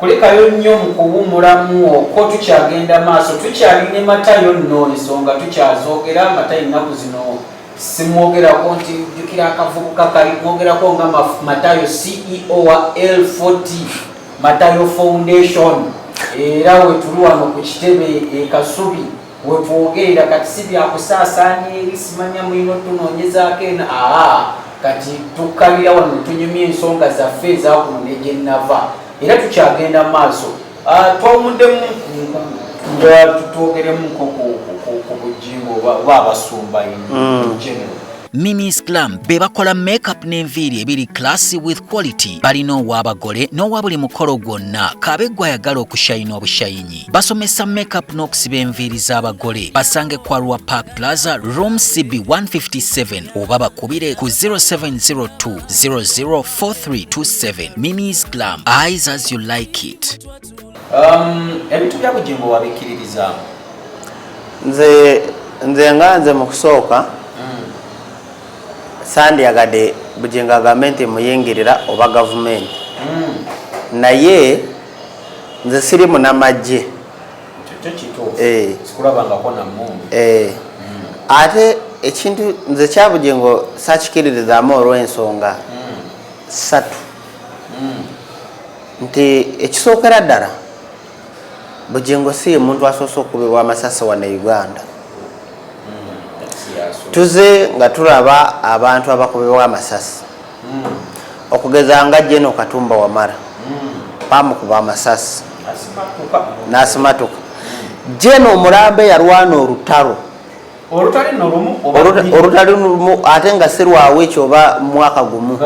kulekayo nnyo mu kuwummulamu okwo tukyagenda maaso tukyali ne matayo nno ensonga tukyazoogera matayo ennaku zino simwogerako nti jjukira akavubuka kali mwogerako nga matayo ceo wa l40 matayo foundation era wetuli wano ku kitebe ekasubi wetwogerera kati si byakusaasaanya eri simanya mulina otunoonyezaako eno aa kati tukkalira wano netunyumya ensonga zaffe ezakuno negyenava era tukyagenda maaso ah, twawumuddemu nja tutwogeremu ku bujingo oba abasumba in mm. general Mimi's Glam be bakola makeup n'enviiri ebiri classy with quality. Balina ow'abagole n'owa buli mukolo gwonna kaabe gw'ayagala okushayina obushayinyi. Basomesa makeup n'okusiba enviiri z'abagole. Basange kwa Rwa Park Plaza room CB 157 oba bakubire ku 0702 004327. Mimi's Glam, eyes as you like it. Um, ebintu bya bujingo wabikkiririzaamu nze nze nga nze mu kusooka mm. sandyagadde bujingo agambe nti muyingirira oba gavumenti mm. naye nze siri munamagye eh. eh. mm. ate ekintu nze kyabujingo sakikiririzaamu olw'ensonga satu nti ekisookera ddala bugingo si yemuntu asoose okubibwa amasasi wano e uganda hmm, tuze nga tulaba abantu abakubibwa amasasi hmm. okugeza nga jeno katumba wamara hmm. bamukuba amasasi nasimatuka jeno omulambe yalwana olutalo olutali nolumu olutali lumu ate nga sirwawo ekyo oba mwaka gumu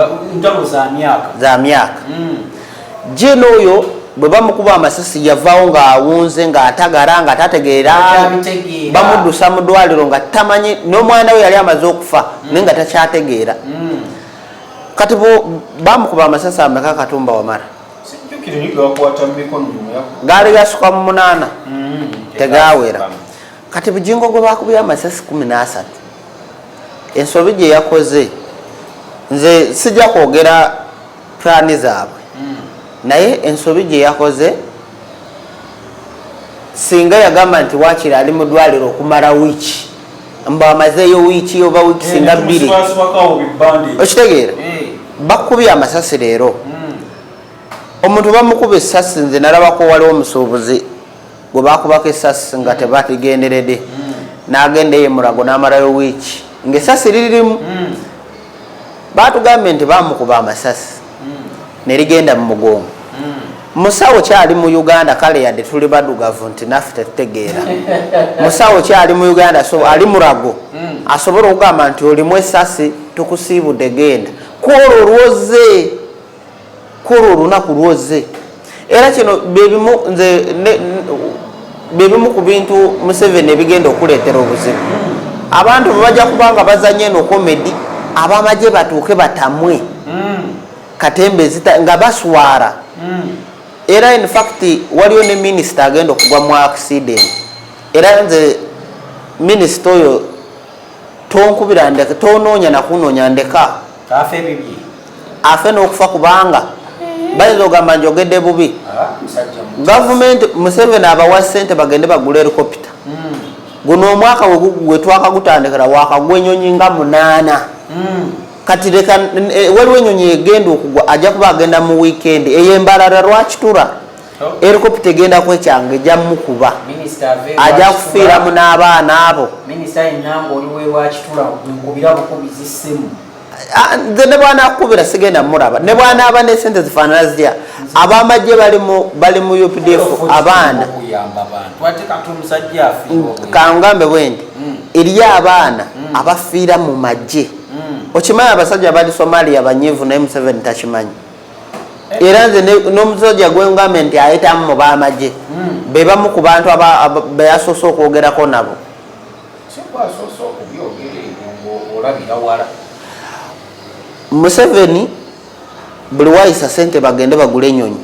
za myaka hmm. jina oyo bwe bamukuba amasasi yavaawo ng'awunze ng'atagara nga tategeera bamuddusa mu ddwaliro nga tamanyi n'omwana we yali amaze okufa hmm. naye nga takyategeera hmm. kati bamukuba amasasi ameka katumba wamara gaali gasukwa mu munaana tegawera kati bujingo gwe bakubye amasasi kumi n'asatu ensobi gye yakoze nze sijja kwogera pulaani zaabwe hmm. naye ensobi gye yakoze singa yagamba nti wakiri ali mu ddwaliro okumala wiiki mbu amazeeyo wiiki oba wiiki eh, singa bbiri okitegeera eh. bakubye amasasi leero hmm. omuntu bamukuba esasi nze nalabako waliwo omusuubuzi gwe bakubako esasi nga tebakigenderede nagenda eye mulago namalayo wiiki ngaesasi liririmu batugambye nti bamukuba amasasi nerigenda mumugongo musawo kyali mu uganda kale yadde tuli badugavu nti naffe tetutegeera musawo kyali mu uganda so ali murago mm. asobola okugamba nti olimu esasi tukusiibude genda kwolwo olwoze kulwo olunaku lwozze era kino byebimu nze byebimu ku bintu museveni ebigenda okuleetera obuzibu abantu bebajja kubanga bazanye eno komedi abamagye batuuke batamwe hmm. katembe nga baswara hmm. era infact waliwo ne minisita agenda okugwa mu accident era nze minisita oyo tonkubira ndeka tonoonya nakunoonya ndeka afe ebibi afe n'okufa kubanga bayinza ogamba njogedde bubi ah, gavumenti museveni abawa sente bagende bagula erikopita hmm. guno omwaka wetwakagutandikira wakagwa enyonyi nga munaana hmm. kati leka eh, waliwo enyonyi egenda okugwa ajja kuba agenda mu wikendi eyo embalala lwakitura erikoputa egenda kwekyanga ejja mukuba ajja kufiiramu n'abaana abo Ah, nze ne bwanakukubira sigenda muraba ne bwanaaba nesente zifaanana zitya abamagye bali mu updf abaana kangambe bwendi hmm. eriyo abaana hmm. abafiira mu magye hmm. okimanyi abasajja bali somalia banyivu naye museveni takimanyi era nze n'omusajja gwengambye nti ayitamu mu b'amagye hmm. be bamu ku bantu be yasoose okwogerako nabo museveni buli wayisa sente bagende bagula enyonyi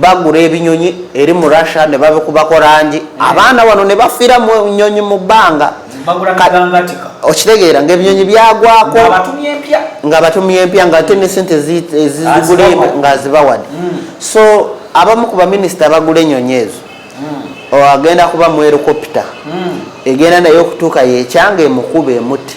bagula ebinyonyi eri mu russia ne babikubako langi hmm. abaana wano ne bafira mu nyonyi mu bbanga okitegeera ngaebinyonyi byagwako nga batumye empya nga ate nesente ezigule nga azibawade hmm. so abamu ku baminisita bagula enyonyi ezo hmm. agenda kuba mu erikopita hmm. egenda naye okutuuka yekyanga emukube emuti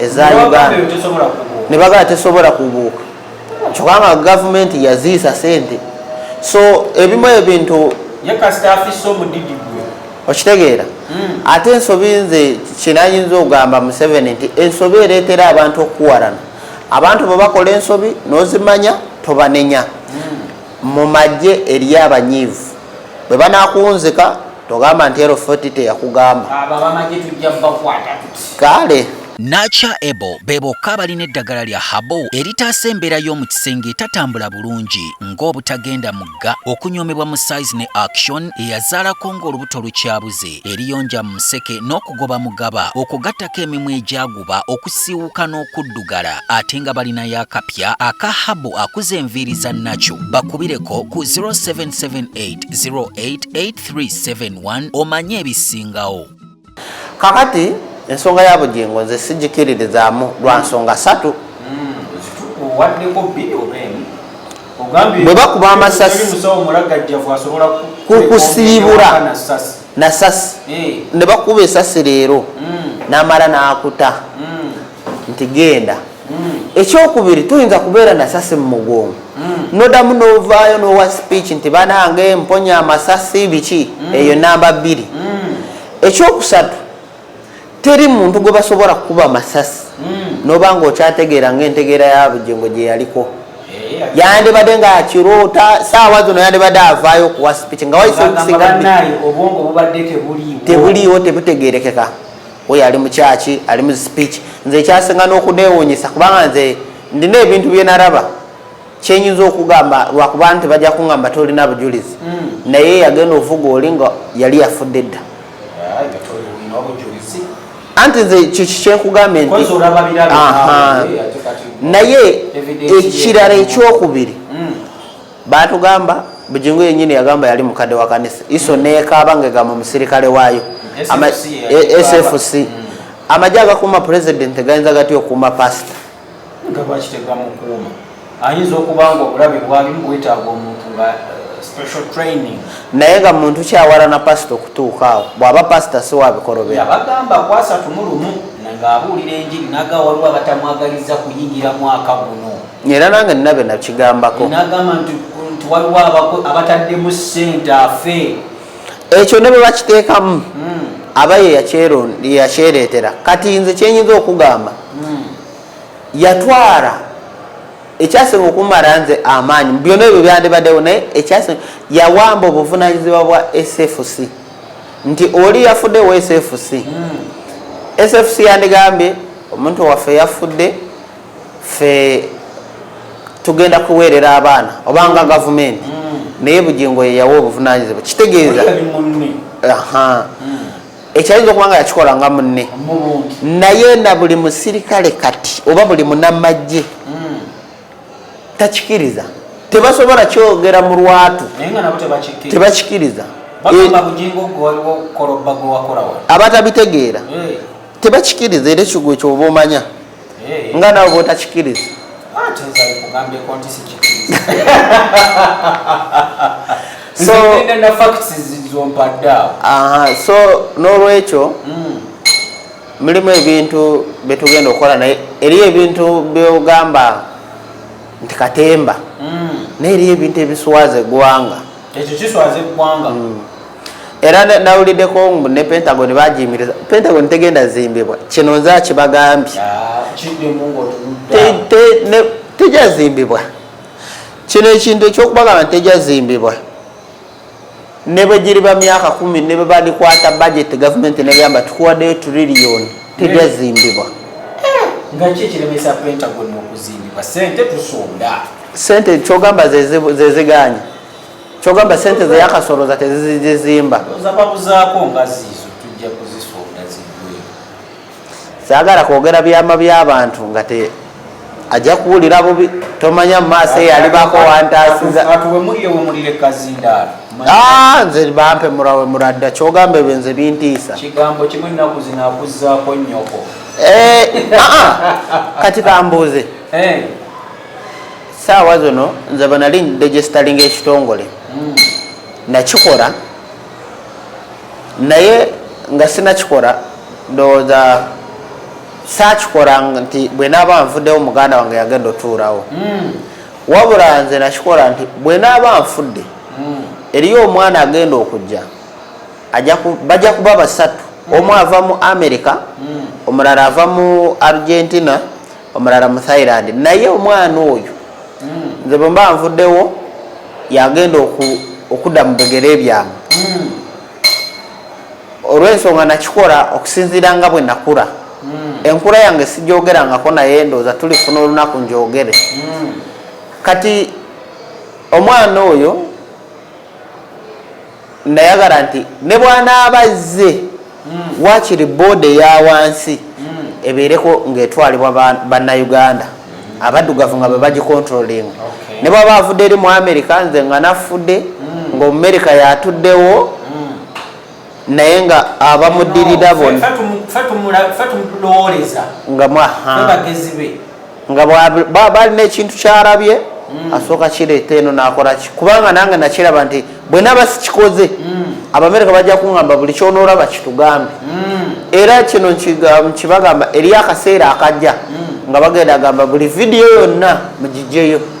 eza uganda ne bagala tesobola kubuuka kyoka nga gavumenti yaziisa sente so ebimu ebintu okitegeera hmm. ate ensobi nze kinayinza okugamba museveni nti ensobi ereetera abantu okukuwarana abantu bwe bakola ensobi nozimanya tobanenya hmm. mu magye eri abanyiivu bwe banakunzika togamba nti ero foti teyakugamba kale nacha ebo be bokka abalina eddagala lya habo eritaasa embeera y'omu kisenge etatambula bulungi ng'obutagenda mugga okunyoomebwa mu size ne action eyazaalako ng'olubuto lukyabuze eriyonja mu museke n'okugoba mugaba okugattako emimwa egyagu bakuba okusiiwuka n'okuddugala ate nga balinayo akapya aka habu akuza enviiri za nakyo bakubireko ku 0778088371 omanye ebisingawo kakati ensonga ya bugingo nze sigikiririzaamu lwa nsonga satu bwe bakuba amasasi kukusiibula nasasi eh. ne bakuba esasi leero mm. namala nakuta mm. nti genda mm. ekyokubiri tuyinza kubeera nasasi mumugongo nodamu novaayo nowa speech nti banange mponya amasasi biki eyo namba bbiri ekyokusatu teri muntu gwe basobola kukuba masasi hmm. noba nga okyategeera nga entegeera yabujengo gye yaliko eh, yandibadde nga akiroota saawa zino yandibadde avaayo okuwa sipiki nga tebuliiwo tebutegerekeka oyo ali mukyaki ali mu sipiki nze ekyasinga n'okuneewunyisa kubanga nze ndina ebintu byenaraba kyenyinza okugamba lwakuba nti bajja kungamba tolina bujulizi hmm. naye yagenda ovuga oli nga yali yafudde dda anti nze kikyenkugambye nti naye ekirala ekyokubiri hmm. batugamba bujingu yenyini yagamba yali mukadde wa kanisa iso hmm. nekaaba nga egamba omusirikale waayo sfc amagye agakuuma pulezidenti gayinza gatya okuuma pasita nga lwaki tebamukuuma ayinza okuba nga obulabe bwalimu bwetaaga omuntu nga naye nga muntu kyawalana pasita okutuuka awo bwaba pasita siwabikolobeyabagamba kwasatu mulumu ngaabuulira enjiri naga waliwo abatamwagaliza kuyingira mwaka guno era nange ninabe nakigambako nagamba nti waliwo abataddemu sente afe ekyo ne bwe bakiteekamu hmm. aba ye yakyereetera kati nze kyenyinza okugamba hmm. yatwala ekyasinga okumala nze amaanyi byona ebyo byandibaddewo naye ekyasinga yawamba obuvunanyizibwa bwa sfc nti oli yafudde wa sfc hmm. sfc yandigambye omuntu waffe yafudde ffe tugenda kuweerera abaana oba nga gavumenti mm. naye bugingo yeyawa obuvunanyizibwa kitegeeza ekyayinza okuba nga yakikola nga munne naye na buli musirikale kati oba buli munamagye hmm. takikiriza tebasobola kyogera mu lwatu tebakikiriza eh, abatabitegeera tebakikiriza era ekigwe kyoba omanya eh. nga nawe bwotakikiriza ah, so n'olwekyo hmm. mulimu ebintu byetugenda okukola naye eriyo ebintu byogamba nti katemba hmm. naye eriyo ebintu ebiswaza eggwanga ekyo kiswaza eggwanga mm. era nawuliddeko mbu ne pentagon bagiyimiriza pentagon tegenda zimbibwa kino nze akibagambye tejazimbibwa kino ekintu ekyokubagamba nti tejazimbibwa ne bwe giriba myaka kumi ne bwe bandikwata bajeti gavumenti negamba tukuwaddeyo turiliyoni tejazimbibwa nga ki ekiremesa pentagon okuzimbibwa sente tusonda sente kyogamba zeziganye kyogamba sente zeyakasoloza tezizizimba zababuzako nga zizo tujja kuzisonda zigwe sagala kwogera byama byabantu nga te ajja kuwulira bubi tomanya mumaaso eyalibako wantasiza ah, nze bampe murawe muradda kyogamba ebyo nze bintiisa kigambo kimu ennaku zinakuzaako nyoko eh, ah, ah. kati kambuuze eh. saawa zino nze bwenali ndigestalinga ekitongole hmm. nakikola naye nga sinakikola ndowooza sakikola nti bwenaaba nfuddewo muganda wange yagenda otuurawo hmm. wabula nze nakikola nti bwenaaba nfudde hmm. eriyo omwana agenda okujja bajja kuba basatu omu ava mu america omulala ava mu argentina omulala mu thailand naye omwana oyo hmm. nze bwemba nvuddewo yagenda okudda mu bigere byange hmm. olwensonga nakikola okusinziira nga bwe nakula hmm. enkula yange sijogerangako naye ndooza tulifuna olunaku njogere kati omwana oyo nayagala nti ne bwanaaba azze hmm. wakiri booda eya wansi hmm. ebeereko ng'etwalibwa bannayuganda hmm. abaddugavu nga bebagicontroling ne bwaba avudde eri mu amerika nze nga nafudde ng'omumerika yatuddewo naye nga abamudirira bona nga mwaha nga bwaba alina ekintu kyalabye mm. asooka kireeta eno nakolaki kubanga nange nakiraba nti bwenaba sikikoze mm. abamerika bajja kuŋamba buli kyonoolaba kitugambe mm. era kino nkibagamba eriyo akaseera akajja nga bagenda agamba buli vidiyo yonna mugijjeyo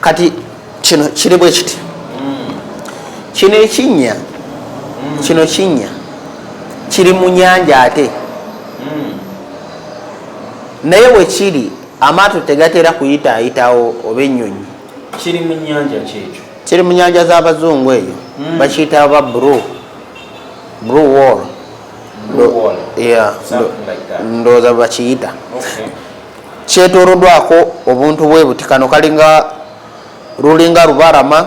kati kino kiri bwe kiti kino ekinnya kino kinnya kiri mu nyanja ate naye wekiri amaato tegatera kuyita ayitawo oba ennyonyi kiri mu nyanja kyekyo kiri mu nyanja z'abazungu eyo hmm. bakiyita ba bru bru wall ndowooza bakiyita kyetolodwako obuntu bwebuti kano kalinga lulinga lubarama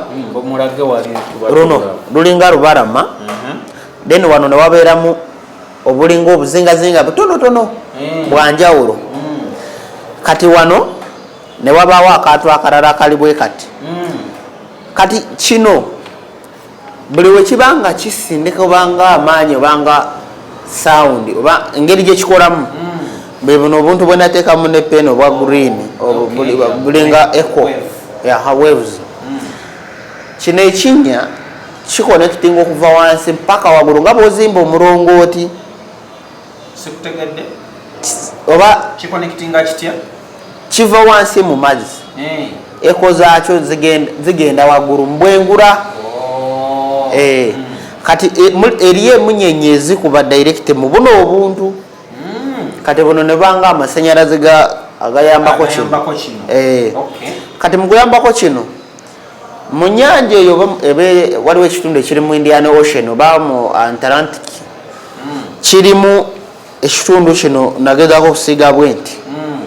luno lulinga lubarama mhm. then wano newabeeramu obulinga obuzingazinga butonotono mm. bwanjawulo mm. kati wano newabaawo akantu akarala akali bwe kati mm. kati kino buli wekiba nga kisindika obanga amaanyi obanga sound oba engeri gyekikolamu mm. bwebuno obuntu bwenateekamu ne pen obwa oh, green bulinga eco waves mm. kino ekinya kikonekitinga okuva wansi mpaka wagulu nga bwozimba omulongooti sikutegedde oba kikonekitinga kitya kiva wansi mu mazzi eh. eko zaakyo zigenda waggulu mbwengura oh. eh. hmm. kati eh, eriyo emunyenye ezikuba direct mu buno obuntu hmm. kati buno nebanga amasanyalaze agayambako kino kati mukuyambako kino mu nyanja eyo waliwo ekitundu ekiri mu indian ocean oba mu antalantic hmm. kirimu ekitundu kino nagezako okusiiga bwe nti hmm.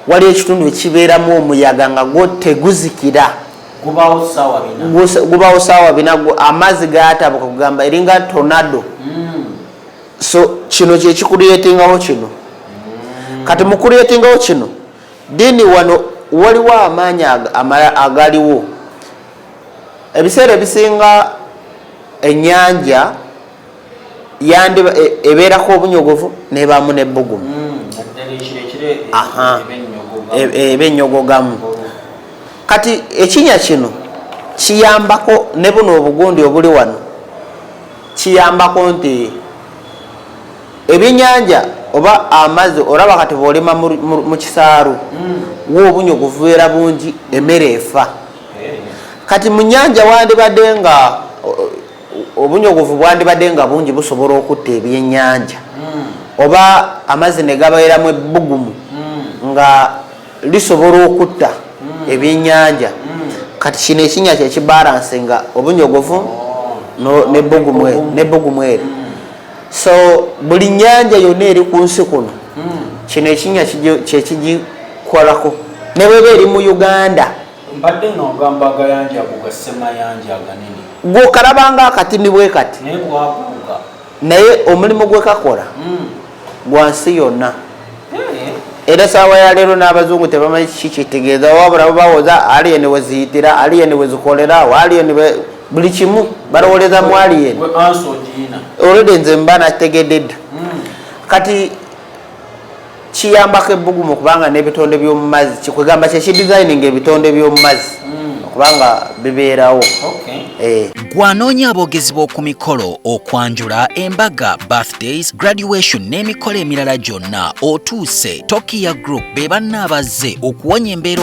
waliwo ekitundu ekibeeramu omuyaga nga gwo teguzikira gubawo saawa bina amazzi gatabuka kugamba eringa tornado hmm. so kino kyekikureetingawo kino kati mukureetingawo kino Ddiini wano waliwo amaanyi amalala agaliwo. Ebiseera ebisinga ennyanja yandiba e, ebeerako obunyogovu n'ebaamu n'ebbugumu eba ennyogogamu. Kati ekinya kino kiyambako ne buno obugundi obuli wano kiyambako nti Ebyenyanja oba amazi olaba kati bwolima mukisaaru wo obunyo guvubeera bungi emere efa kati munyanja wandibadde nga obunyogovu bwandibadde nga bungi busobola okutta ebyenyanja oba amazi negabeeramu ebbugumu nga lisobola okutta ebyenyanja kati kino ekinya kyekibalansi nga obunyogovu nebbugumu eri so buli nyanja yonna eri ku nsi kuno hmm. kino ekinya kyekigikolako ne bweba eri mu uganda mbadde nogamba agayanja gugasemayanja aganene gwokalabanga akati ni bwe kati naye omulimu gwekakola hmm. gwa nsi yonna eh. era saawa yaleero n'abazungu tebamanyi kiki kitegeeza wabula babawoza aliyeni weziyitira aliyeni wezikolera aliyeni buli kimu balowoleza mwali yena olwede nze mba nategedde dda hmm. kati kiyambako ebbugumu kubanga n'ebitonde by'omumazzi kikwegamba kyekidesigning ebitonde by'omumazzi hmm. okubanga bibeerawo eh. gwanoonya aboogezi b'oku mikolo okwanjula embaga birthdays graduation n'emikolo emirala gyonna otuuse tokiya group be banna abazze okuwonya embeera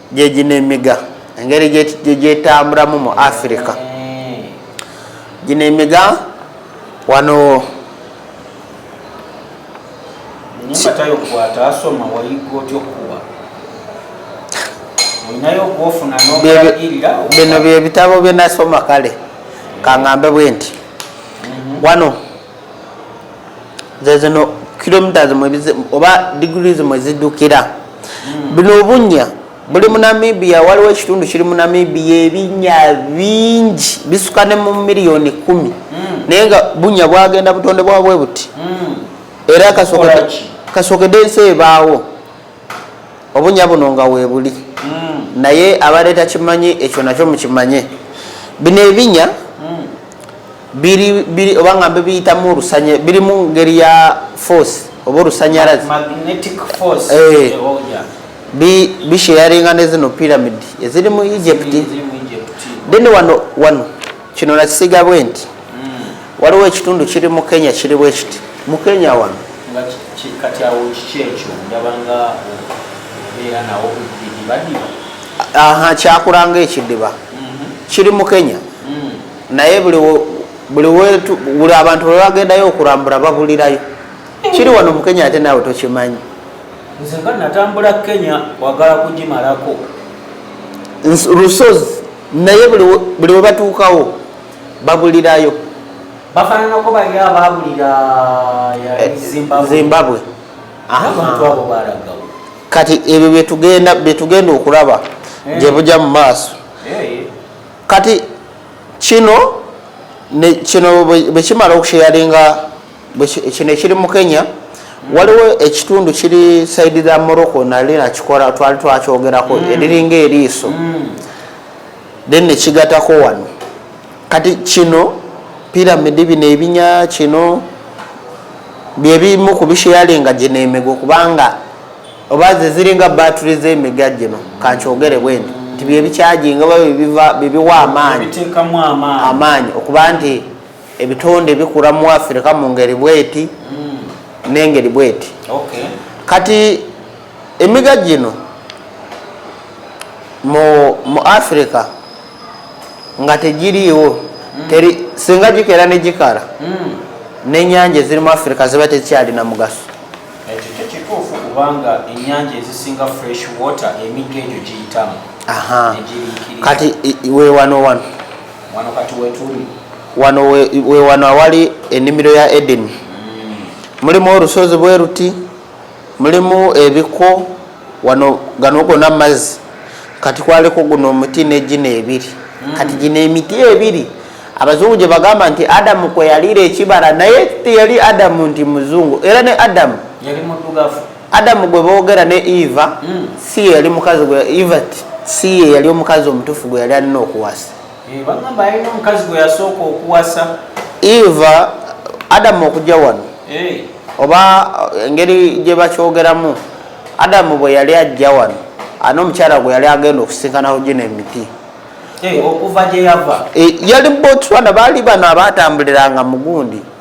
gyegino emiga engeri gyetamburamu mu afirika gino emiga wano bino byebitabo byenasoma kale kangambe bwenti mhm. wano zezino kilometres mwebize oba degrees mwezidukira hmm. bino obunya buli mu namibia waliwo ekitundu kiri mu namibia ebinya bingi bisuka ne mu miliyoni kumi hmm. naye nga bunya bwagenda butonde bwabwe buti hmm. era kasokede ensi ebaawo obunya buno nga webuli mm. naye abadde takimanyi ekyo nakyo mukimanye bino ebinya mm. biri oba nga bibiyitamu olusanya biri mu ngeri ya force oba olusanyalazi eh. oh, bisheyaringa nezino pyramid eziri mu egypt then wano wano kino nakisiga bwe nti hmm. waliwo ekitundu kiri mu kenya kiri bwe kiti mu kenya wano kati awo kiki ekyo ndabanga obeera nawo bidibadiba aha kyakulanga ekidiba mhm. kiri mu kenya hmm. naye buli buli abantu bwe bagendayo okulambula babulirayo hmm. kiri wano mu kenya ate naawe tokimanyi nze nga natambula kenya wagala kugimalako lusozi naye buli webatuukawo babulirayo bafananako bali ababulira eh, zimbabwe kati ebyo byetugenda byetugenda okulaba eh. gyebuja mu maaso eh. kati kino kino bwekimala okusheyaringa kino ekiri mu kenya waliwo ekitundu kiri saidi za morocco nali nakikola twali twakyogerako mm. eriringa eriiso mm. then nekigatako wano kati kino piramidi bino ebinya kino byebimu kubisheyalinga gino emigo kubanga oba zeziringa battery zemiga gino kankyogere bwendi nti byebikyajinga oba bibiwa amaanyi amaanyi okuba nti ebitonde bikula mu afirika mu ngeri bweti mm. nengeri bweti okay. kati emiga gino mu, mu afirika nga tegiriiwo mm. teri singa gikera negikala mm. nenyanja eziri mu afirika ziba tekyalina mugaso ekyo kyo kituufu kubanga enyanja ezisinga fresh water emigga egyo giyitamu kati wewanowano wano we wano awali ennimiro ya edeni mulimu olusozi bwe luti mulimu ebiko wano gano gona mazzi kati kwaliko guno omuti negino ebiri mm. kati gino emiti ebiri abazungu gye bagamba nti adamu kwe yaliira ekibala naye teyali adamu nti muzungu era ne adamu yali muddugavu adamu gwe boogera ne eva hmm. si yeyali mukazi gwe eva si yeyali omukazi omutuufu gwe yali alina okuwasa eh, bagamba yalina omukazi gwe yasooka okuwasa eva adamu okujja wano eh. oba eh, engeri gye bakyogeramu adamu bwe yali ajja wano ani omukyala gwe yali agenda okusinkanaho gino emiti okuva gye yava yali botswana baali bano abaatambuliranga mugundi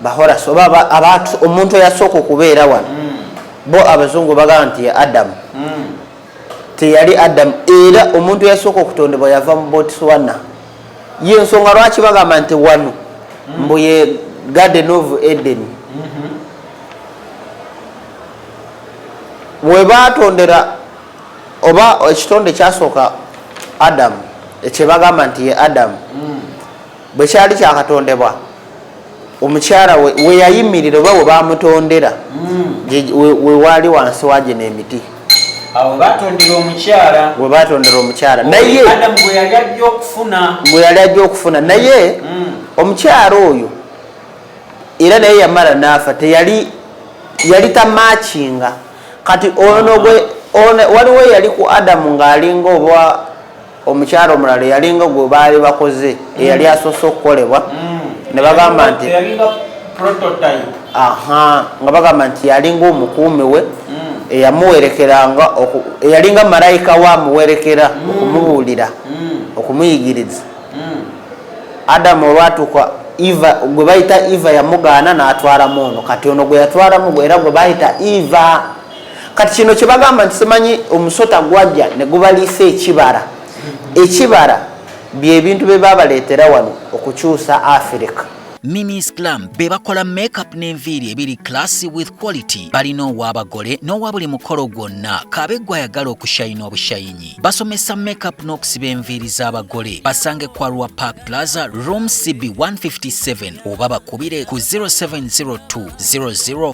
bahoras oba abantu omuntu eyasooka okubeera wano hmm. bo abazungu bagamba nti ye adamu hmm. teyali adamu era omuntu eyasooka okutondebwa yava mu botswana ye ensonga lwaki bagamba nti wano hmm. mbu ye garden of eden mm-hmm. webatondera oba ekitonde kyasooka adamu ekyebagamba nti ye adamu bwe kyali kyakatondebwa omukyala weyayimirira oba webamutondera hmm. wewaali wansi wagino emiti webatondera omukyala naye gweyali ajja okufuna naye hmm. omukyala oyo era naye yamala naafa teyali yali tamakinga kati ono gwe waliwo yali ku adamu ng'alinga oba omukyala omulala eyalinga gwe baali bakoze eyali asoose okukolebwa ne bagamba nti nga bagamba nti yalinga omukuumi we eyamuwerekeranga eyalinga malayika we amuwerekera okumubuulira okumuyigiriza adamu olwatuuka eva gwe bayita eva yamugaana n'atwalamu ono kati ono gwe yatwalamu gwe era gwe bayita eva kati kino kyebagamba nti simanyi omusota gwajja negubaliisa ekibara ekibara byebintu byebabaletera wano okukyusa afirika Minis Glam be bakola makeup n'enviiri ebiri classy with quality. Balina ow'abagole n'owa buli mukolo gwonna kaabe gw'ayagala okushayina obushayinyi. Basomesa makeup n'okusiba enviiri z'abagole. Basange kwa Rua Park Plaza room CB 157 oba bakubire ku 0702 00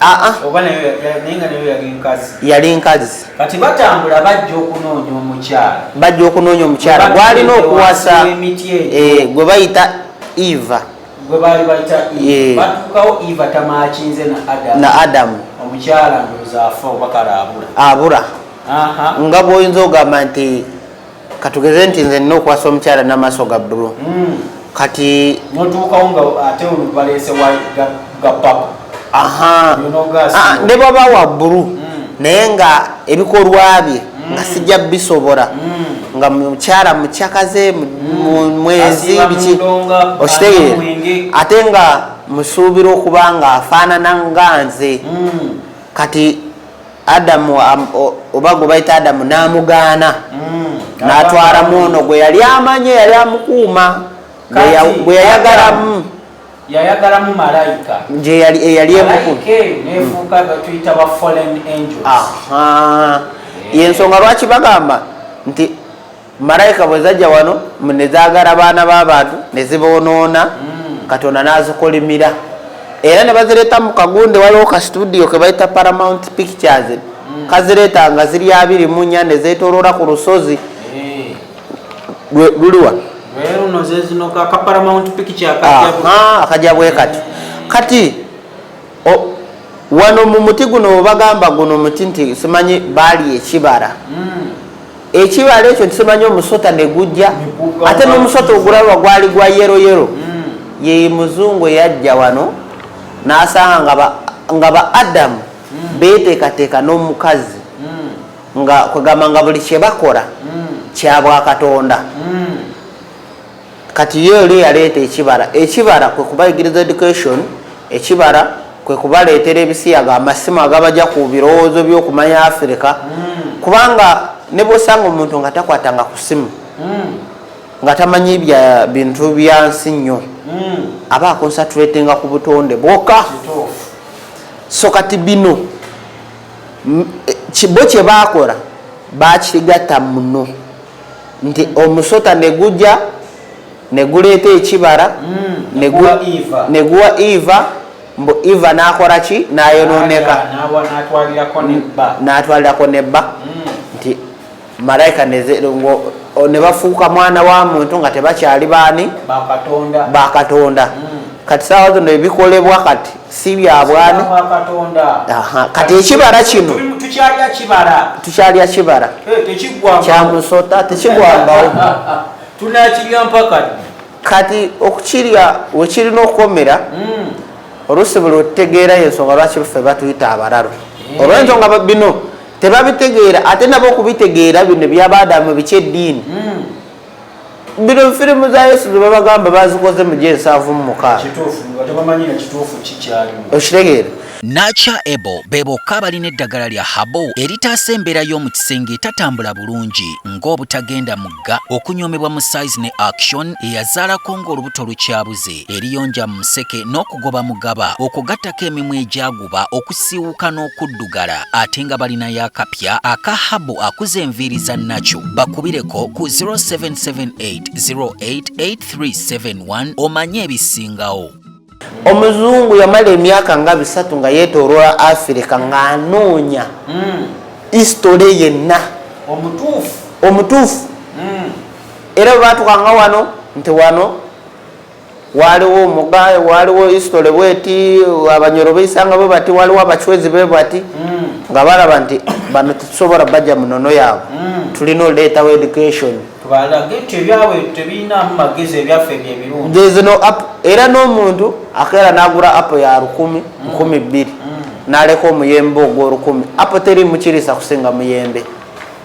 Ah, ah. yali nkazi kati batambula bajja okunoonya omukyala bajja okunoonya omukyala gwalina okuwasa eh, gwe bayita eva eh. na adamu abura nga bwoyinza ogamba nti katugeze nti nze nina okwasa omukyala namaaso ga bulu hmm. kati notuukawo nga ate olubaleese ga papa ah, ne baba wa bulu hmm. naye nga ebikolwa bye hmm. nga sijja bisobora nga mukyala mukyakaze mwezi biki okitegeera ate nga musuubira okuba nga afaanana nga nze kati adamu oba gwe bayita adamu n'amugaana mm. n'atwala mwono gwe yali amanye yali amukuuma gwe yayagalamu yayagalamu malayika gyeyali eyali emukuumaensonga lwaki bagamba nti malayika bwe zajja wano ne zaagala baana b'abantu ne ziboonoona mm. katonda n'azikolimira era ne bazireeta mu kagunde waliwo ka situdiyo ke bayita paramount pictures mm. kazireeta nga ziri abiri mu nnya ne zeetooloola ku lusozi eh. luliwa akajja bwe kati kati wano mu muti guno webagamba guno muti nti simanyi baali ekibara hmm. ekibala ekyo ntikimanyi omusota negujja ate nomusota ogulaba gwali gwa yero yero hmm. ye muzungu eyajja wano nasanga nga ba adamu hmm. betekateka nomukazi nga kwegamba nga buli kyebakola kyabwakatonda Kati ye oli yaleeta ekibara. Ekibara kwe kubayigiriza education, ekibara kwe kubaleetera ebisiyaga, amasimu agabagya ku birowoozo by'okumanya Africa, kubanga ne bw'osanga omuntu nga takwatanga ku simu, nga tamanyi bya bintu bya nsi nnyo, aba akonsatulatinga ku butonde bwoka. So kati bino bo kye baakola baakigatta muno. nti omusota neguja neguleeta ekibara mm, neguwa eva mbu eva nakora ki nayononeka natwalirako nebba mm. nti malaika nebafuuka mwana wa muntu nga tebakyali baani bakatonda mm. kati sawa zino ebikolebwa kati si byabwani kati ekibala kino tukyalya kibala eh, kyamusota tekigwangawo tunakirya mpaka kati okukirya wekirina okukomera hmm. oluusi buli otutegeera yensonga lwaki ffe batuyita abalalu eh. olwensonga bino tebabitegeera ate nabo okubitegeera bino byabadamu biki eddiini hmm. bino firimu za yesu zebabagamba bazikoze mu gyensanvu mu mukaaokitegeera nacha ebo be bokka abalina eddagala lya habo eritaasa embeera y'omu kisenge etatambula bulungi ng'obutagenda mugga okunyoomebwa mu size ne action eyazaalako ng'olubuto lukyabuze eriyonja mu museke n'okugoba mugaba okugattako emimwa egyagu bakuba okusiiwuka n'okuddugala ate nga balinayo akapya aka habu akuza enviiri za nakyo bakubireko ku 0778088371 omanye ebisingawo omuzungu yamala emyaka nga bisatu nga yetoloola afirika ng'anoonya hmm. istole yenna omutuufu hmm. era bwebatukanga wano nti wano Waliwo omugaye, waliwo history bweti, abanyoro beisanga bwe bati, waliwo abachwezi be bati nga balaba nti bano tetusobola bajja mu nono yaabwe, tulina oleetawo education. Tubalage nti ebyabwe tebirinamu magezi, ebyaffe bye birungi. There is no app. Era n'omuntu akeera n'agula app ya lukumi, nkumi bbiri, n'aleka omuyembe ogw'olukumi, app teriimu kiriisa kusinga muyembe.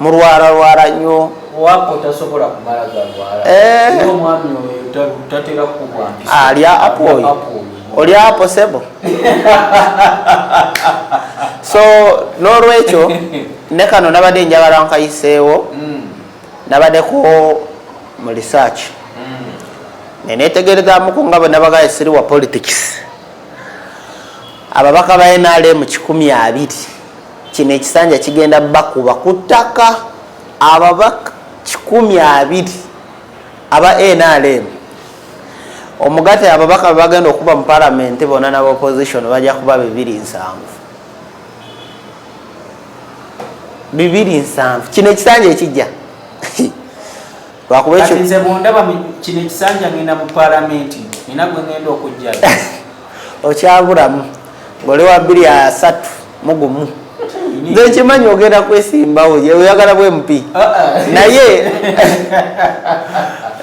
mulwala lwala nyo eh. alya apo oyo oli apo sebo so nolwekyo ne kano nabadde njagala nkayiseewo mm. nabadeko mu research mm. nenetegerezamuku nga bwenabagaye siri wa politics ababaka ba nrm kikumi abiri kino ekisanja kigenda bakuba ku ttaka ababaka kikumi abiri aba nrm omugate ababaka bebagenda okuba mu palamenti bona naba opposition bajja kuba bibiri nsanvu bibiri nsanvu kino ekisanja ekijja lwakuba ekyo nze bundaba kino ekisanja ngenda mu palamenti nina gwe ngenda okujja okyabulamu ngoli wa bbiri asatu mugumu nze nkimanyi ogenda kwesimbawo oyagala bwe mpi ah, ah. naye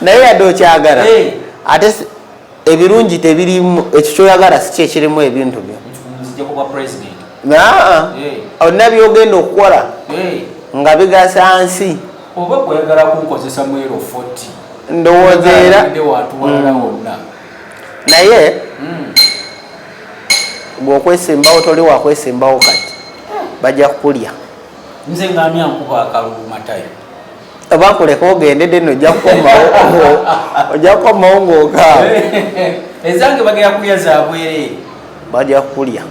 naye yadde okyagala ate ebirungi tebirimu ekyo kyoyagala si kyekirimu ebintu byo olina byogenda okukola nga bigasa nsi oba oyagala kunkozesa mwero fot ndowooza era watuwalala mm. wonna naye mm. bwokwesimbawo toli wakwesimbawo kati bajja kukulya nze ngani ankuba akalulu matayo bakuleka ogende deno ojja kukomawo ojja kukomawo ngaogawo ezange bagera kulya zabweree baja kulya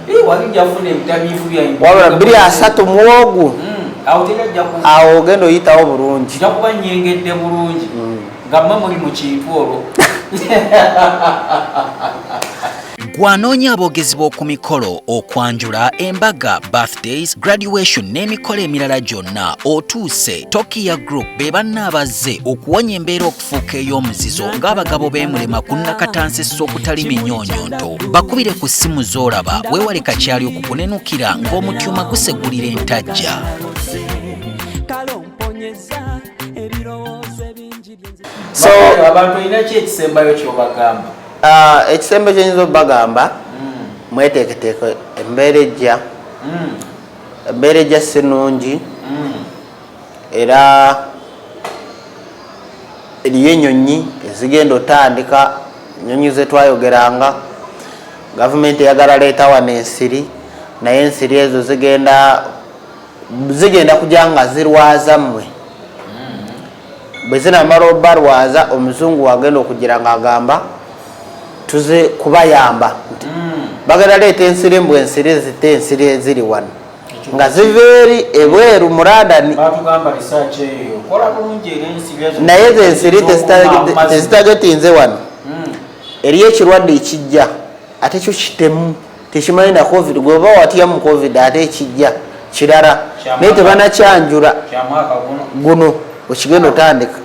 wabula biri asatu muwogu hmm, awo ogenda oyitawo bulungi jakuba nyengedde bulungi hmm. nga mwe muli mu kintu olwo gwanoonya aboogezi b'oku mikolo okwanjula embaga birthdays graduation n'emikolo emirala gyonna otuuse tokiya group be banna abazze okuwonya embeera okufuuka ey'omuzizo ng'abagabo b'emulema ku nnakatansisa okutali minyonyonto bakubire ku ssimu z'olaba weewale kakyali okukunenukira ng'omutyuma gusegulira entajja so abantu olina ki ekisembayo kyobagamba ah, ekisembe kyenyinza obagamba hmm. mweteeketeeke embeera ejja hmm. embeera ejja sinungi hmm. era eriyo enyonyi ezigenda otandika enyonyi zetwayogeranga gavumenti eyagala leeta wano ensiri naye ensiri ezo zigenda zigenda kuja nga zirwaza mmwe mm-hmm. bwe zinamala obalwaza omuzungu wagenda okugira nga agamba tuze kubayamba nti mm. bagenda leeta ensiri mbu ensiri zite ensiri eziri wano nga ziva eri ebweru muradani naye zensiri tezitagetinze wano hmm. eri ekirwadde ekijja ate kyo kitemu tekimanyi na covid gweba watya mu covid ate ekijja kirala naye tebanakyanjula guno okigenda otandika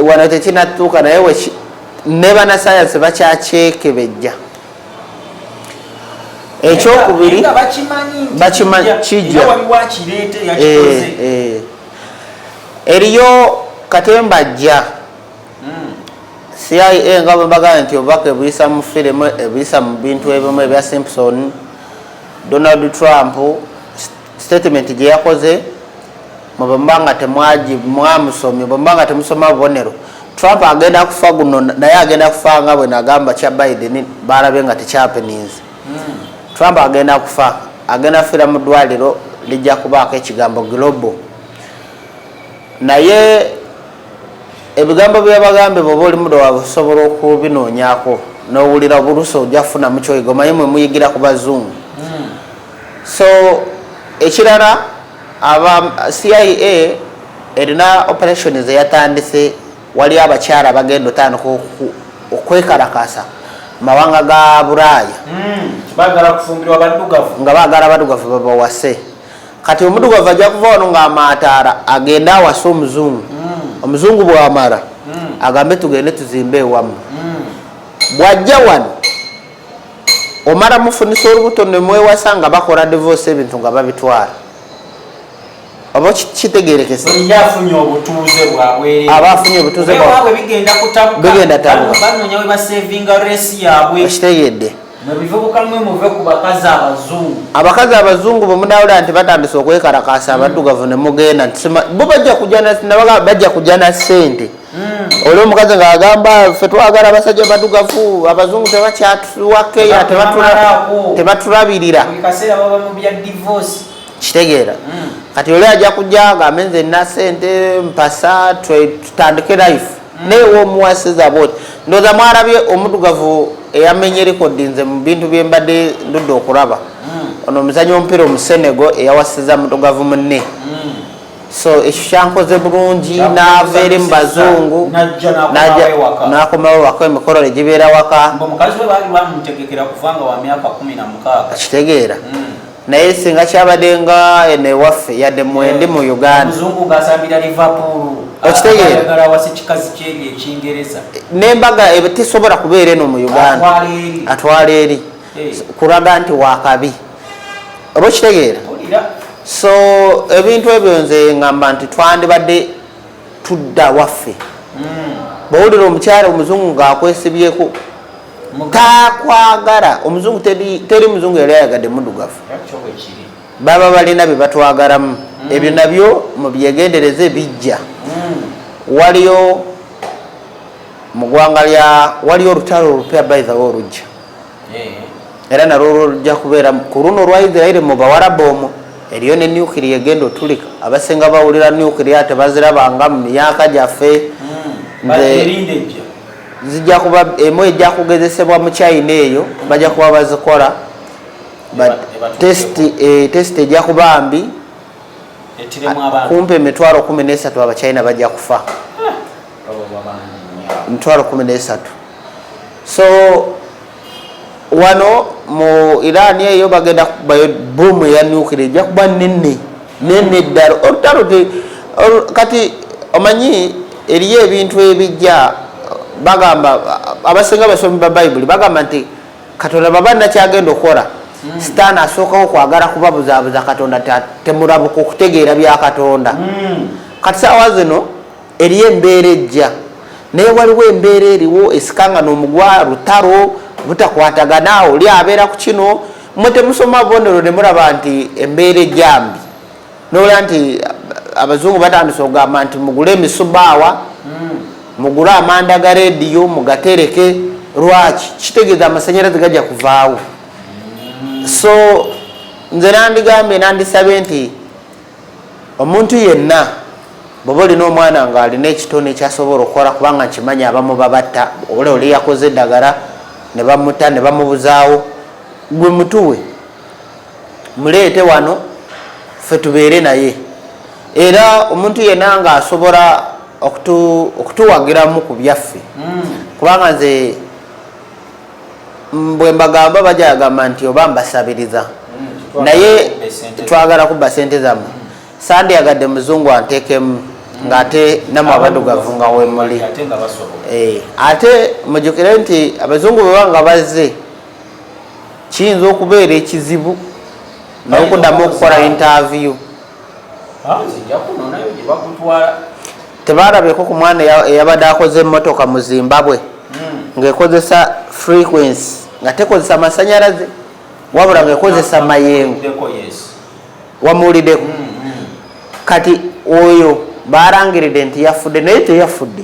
wano tekinatuuka naye nebanasayansi bakyakyekebejja ekyokubiri bakimanyi kijja eh, eh. eriyo katemba ajja hmm. cia nga bwebagamba nti obubaka ebuyisa mu firimu ebuyisa mu bintu ebimu ebya simpson donald trump Statement gye yakoze mwe bwe muba nga temwagi mwamusomye bwe muba nga temusoma bubonero Trump agenda kufa guno naye agenda kufa nga bwe nagamba kya Biden baalabye nga tekyapeninze hmm. Trump agenda kufa agenda kufira mu ddwaliro lijja kubaako ekigambo global naye ebigambo byebagambe bwoba oli muda waabwe osobola okubinoonyako n'owulira obulusa ojja kufunamu kyoyiga omanyi mwe muyigira ku bazungu So ekirala aba CIA erina operation zeyatandise wali abakyala bagenda otandika okwekalakasa mawanga ga buraaya hmm, nga bagala badugavu babawase kati omudugavu ajja kuva wano nga amaataara agende awase omuzungu hmm. omuzungu bwamara hmm. agambe tugende tuzimbe ewamu bwajja wano omala mufunisa olubuto nemwewasa nga bakola divorce ebintu nga babitwala oba kitegerekese aba afunye obutuuze bigenda tabukitegedde abakazi abazungu bwemunawulira nti batandise okwekalakasa abaddugavu nemugenda bo bajja kujana sente hmm. oli omukazi nga agamba fe twagala abasajja badugavu abazungu tebakyatuwakeya tebatulabirira kitegeera hmm. kati oli ajja kujja nga amenze na sente mpasa tutandike life hmm. naye womuwasiza bwoti ndoza mwarabye omudugavu eyamenye rekodi nze mu bintu byembadde ndudde okuraba ono omuzanyi omupiira omusenego eyawasiza mudugavu munne so ekyo kyankoze bulungi naava eri mu bazungu nakomawo waka emikolo ne gibeera waka kitegeera hmm. naye singa kyabadde nga eno ewaffe yadde mwendi mu eh, uganda okitegeeranembaga eh, tesobola kubeera eno mu uganda atwala eri kulaga nti wakabi oba okitegeera so ebintu ebyo nze ngamba nti twandibadde tudda waffe hmm. bwowulira omukyala omuzungu ngaakwesibyeko takwagala omuzungu teri muzungu yali ayagadde mudugavu baba balina byebatwagalamu hmm. ebyo nabyo mubyegendereze bijja hmm. waliyo mugwanga lya waliyo olutalo olupya baithawo olujja era nalwo lwolujja kubeera ku luno olwa israeli mu bawarabu omwo eriyo ne nukiria egenda otulika abasinga bawulira nukiria tebazirabanga mu myaka gyaffe hmm. zijja kuba emu ejja kugezesebwa mu china eyo bajja kuba bazikola test eh, ejja kuba mbi kumpi emitwalo kumi nesatu abachina bajja kufa eh. mitwalo kumi nesatu so wano mu iran eyo bagenda kubayo bomu eya nukira ejja kuba nene nene ddala olutalo kati omanyi eriyo ebintu ebijja bagamba abasinga basomi ba bayibuli bagamba nti katonda baba nakyagenda okukola hmm. sitaani asookawo kwagala kubabuzaabuza katonda temurabuka okutegeera bya katonda hmm. kati saawa zino Eriyo embeera ejja, naye waliwo embeera eriwo esikanga nomugwa lutaro butakwatagana oli abeera kukino mwe temusoma bonero nemuraba nti embeera ejambi nowulira nti abazungu batandise ogamba nti mugule emisubaawa mm. mugule amanda ga rediyo mugatereke lwaki kitegeza amasanyalaze gajja kuvaawo so nze nandigambye nandisabye nti Omuntu yenna bwoba olina omwana nga alina ekitone kyasobola okukola kubanga nkimanyi abamu babatta ola oli yakoze eddagala nebamuta nebamubuzaawo gwe mutuwe muleete wano fe tubeere naye era omuntu yena nga asobola okutuwagiramu ku byaffe hmm. kubanga nze bwembagamba bajagamba nti oba mbasabiriza hmm, naye twagala kubba sente zamwe hmm. sandiyagadde muzungu antekemu hmm. ngaate namwe abadugavu nga wemuli eh, ate mujukire nti abazungu bwebanga bazze kiyinza okubeera ekizibu nokudamu okukola interview tebaalabeko ku mwana eyabadde akoze emmotoka mu zimbabwe hmm. ng'ekozesa frequency nga tekozesa masanyalaze wabula ngaekozesa mayengo wamuwuliddeko mm, mm. kati oyo balangiridde nti yafudde naye teyafudde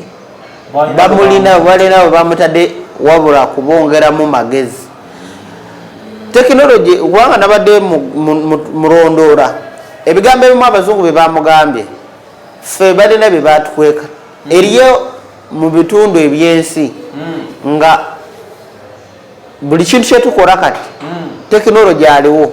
bamulina balinawe bamutadde wabula kubongeramu magezi tekinologi kubanga nabadde mulondoora ebigambo ebimu abazungu bye bamugambye ffe balina bye batukweka hmm. eriyo mu bitundu ebyensi hmm. nga buli kintu kyetukola kati hmm. tekinologi aliwo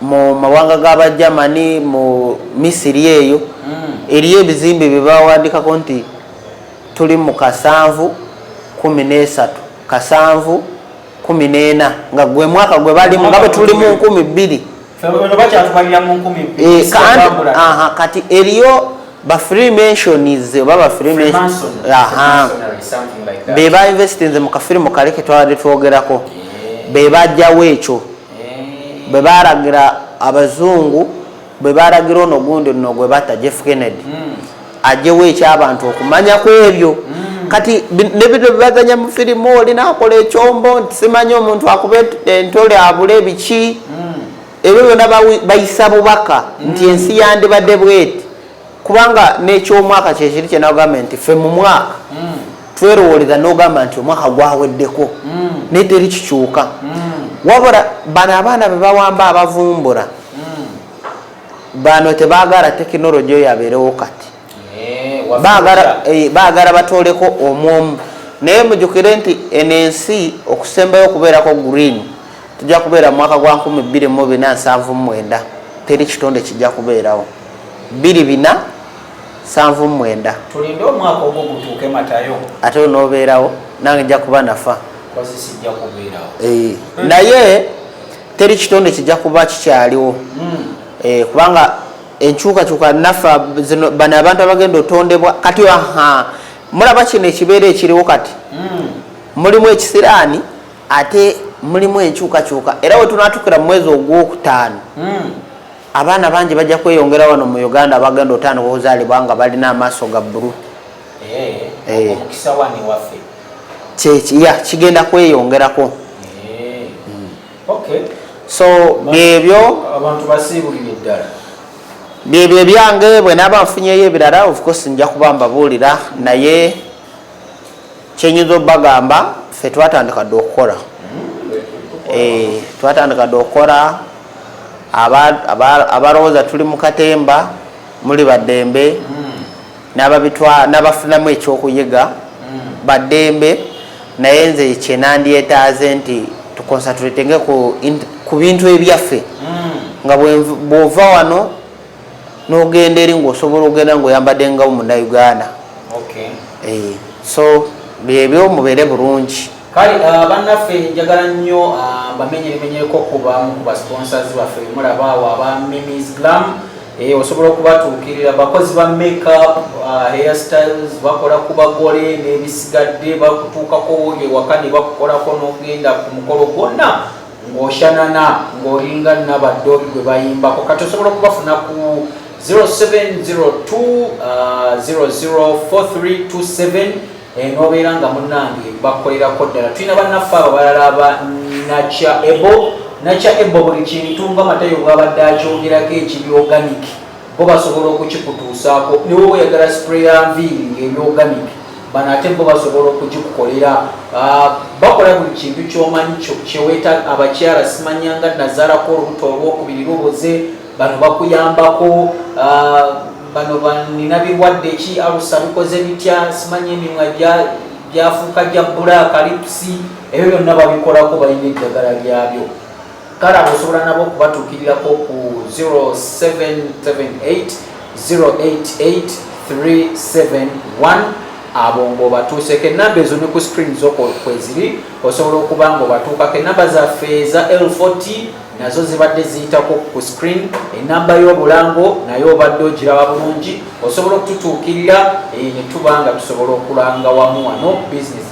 mu mawanga ga bagermany mu misiri eyo mm. eriyo ebizimbe bye bawandikako nti tuli mu kasanvu kumi n'esatu kasanvu kumi n'ena nga gwe mwaka gwe balimu nga bwe tuli mu nkumi bbiri eh, kati eriyo bafreemensions oba bafreemensionsbebainvestinze mu kafirimu kale ketwabadde twogerako eh. bebajjawo ekyo bwe balagira abazungu bwe balagira ono gundi no gwe batta jeff kennedy hmm. ajewo ekyabantu okumanya ku ebyo hmm. kati nebino bibaganya mu firimu oli nakola ekyombo nti simanyi omuntu akuba entole abula ebiki hmm. ebyo byona bayisa bubaka nti ensi yandibadde bweti kubanga n'ekyomwaka kyekiri kyenagambye nti fe mu mwaka mm. twerowoolera n'ogamba nti omwaka gwaweddeko mm. naye teri kikyuka mm. wabula bano abaana bebawamba abavumbula bano tebagala tekinologi oyo abeerewo kati eh, eh, bagala batoleko omwomu naye mujukire nti eno ensi okusembayo okubeerako green tujja kubeera mu mwaka gwa 247 teri kitonde kijja kubeerawo biri bina sanvu mwenda tulinde omwaka ogwo gutuuke matayo ate onobeerawo nange nja kuba nafa eh, naye teri kitonde kijja kuba kikyaliwo hmm. eh, kubanga enkyukakyuka nafa zino bano abantu abagenda otondebwa kati aha mulaba kino ekibeera ekiriwo kati hmm. mulimu ekisiraani ate mulimu enkyukakyuka era wetunatukira mu mwezi ogwokutaano hmm. abaana bangi bajja kweyongera wano mu uganda abagenda otandika okuzaalibwa nga balina amaaso ga bbulu eh, eh. kyeki ya kigenda kweyongerako eh. hmm. so byebyo byebyo ebyange bwenaaba nfunyeyo ebirala ofcourse nja kuba mbabuulira naye kyenyinza obagamba fe twatandika dde okukola eh, twatandika dde okukola abalowooza tuli mu katemba muli baddembe hmm. nabafunamu ekyokuyiga hmm. baddembe naye nze kyenandyetaaze nti tukonsatrtenge ku bintu ebyaffe hmm. nga bwova wano nogenda eri ngaosobola ogenda ngaoyambadde nga munauganda eh, so byebyo mubeere bulungi kale uh, bannaffe njagala nnyo uh, mbamenyeremenyeko kubamu ku basponsors baffe mulabaawo aba mimis glam eh, osobola okubatuukirira bakozi ba makeup uh, hair styles bakola ku bagole n'ebisigadde bakutuukako ewaka ne bakukolako n'ogenda ku mukolo gwonna ng'oshanana ng'olinga nabaddooli gwe bayimbako kati osobola okubafuna ku 0702004327 enobeera nga munange bakolerako ddala tulina bannaffe abo balala ba nakya ebo nakya ebo buli kintu nga matayo bwabadde akyogerako ekibyoganiki bo basobola okukikutuusaako ne woba oyagala spray ya nviiri ng'ebyoganic bano ate bo basobola okugikukolera ah, bakola buli kintu kyomanyi kyeweta abakyala simanyanga nazalako olubuto olwokubiri lubuze bano bakuyambako ah, bano banina birwadde ki alusa bikoze bitya simanyi emimwa gyafuuka gya bbula kalipusi ebyo byonna babikolako balina eddagala lyabyo kale abo osobola nabo okubatuukirirako ku 0778088371 abo ngaobatuuseko enamba ezo ne ku screen zoko kweziri osobola okuba nga obatuukako enamba zaffe eza l40 nazo zibadde ziyitako ku screen enamba y'obulango naye obadde ogiraba bulungi osobola okututuukirira eh, ne tuba nga tusobola okulanga wamu wano business